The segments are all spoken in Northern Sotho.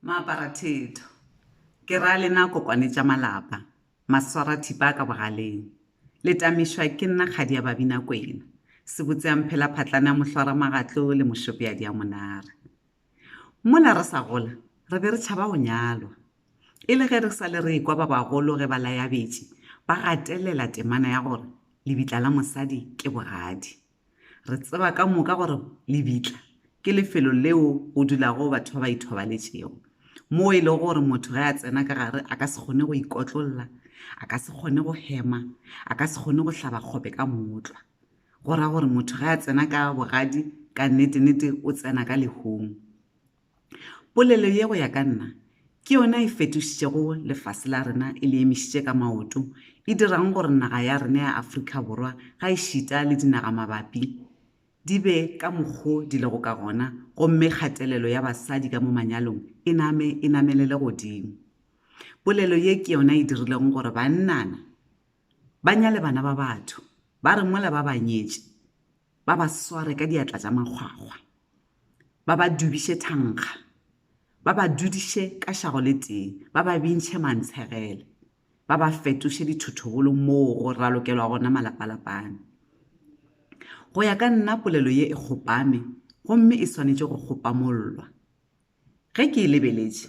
Maaparathetho, ke ra lena kokwane tša malapa, maswarathipa ka bogaleng, le tamišwa ke nna kgadi ya Babinakwena, sebotseamphelaphatlana mohlwaramagatlo le mošopeadi a monare. Mola re sa gola re be re tšhaba go nyalwa, e le ge re sa le re ekwa ba bagolo ge ba layabetše ba gatelela temana ya gore lebitla la mosadi ke bogadi. Re tseba ka moka gore lebitla ke lefelo leo go dulago batho ba ba ithobaletšego, moo e lego gore motho ge a tsena ka gare a ka se kgone go ikotlolla, a ka se kgone go hema, a ka se kgone go hlaba kgope ka mootlwa. Go ra gore motho ge a tsena ka bogadi, ka nnete-nnete o tsena ka lehung. Polelo ye go ya ka nna ke yona e fetošitšego lefase la rena e le emišitše ka maoto, e dirago gore naga ya rena ya Afrika Borwa gaešita le dinagamabapi di be ka mokgo di lego ka gona gomme kgatelelo ya basadi ka mo manyalong e name e namelele godimo. Polelo ye ke yona e dirilego gore bannana ba nyale bana ba batho ba re mola ba ba nyetše, ba ba sware ka diatla tša makgwakgwa ba ba dubiše thankga ba ba dudiše ka šago le tee ba ba bintšhe mantshegele ba ba fetoše dithothobolo moo go ralokelwa gona malapalapane go ya ka nna polelo ye e kgopame gomme e swanetše go kgopamollwa ge ke e lebeletše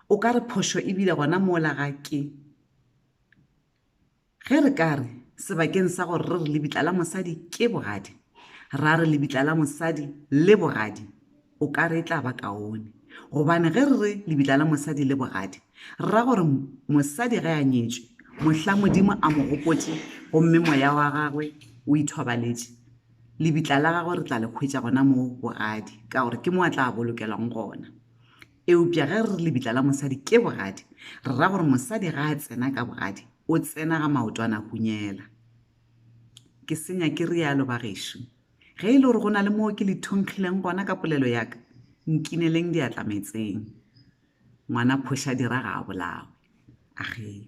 o ka re phošo e bile gona mola ga ke Ge re ka re, sebakeng sa gore re re lebitla la mosadi ke bogadi, ra re lebitla la mosadi le bogadi, o ka re e tla ba kaone. Gobane ge re re lebitla la mosadi le bogadi, re ra gore mosadi ge a nyetšwe, mohla Modimo a mo gopotše gomme moya wa gagwe o ithobaletše, lebitla la gagwe re tla le hwetša gona moo bogadi, ka gore ke moo a tla bolokelwang gona. Eupša ge re re lebitla la mosadi ke bogadi, re ra gore mosadi ga a tsena ka bogadi, o tsena ga maotwana hunyela. Ke senya ke rialo, bagešo. Ge e le gore go na le moo ke le thunkgileng gona ka polelo ya ka, nkineleng diatla meetseng. Ngwana phošadira ga a bolawe. Age.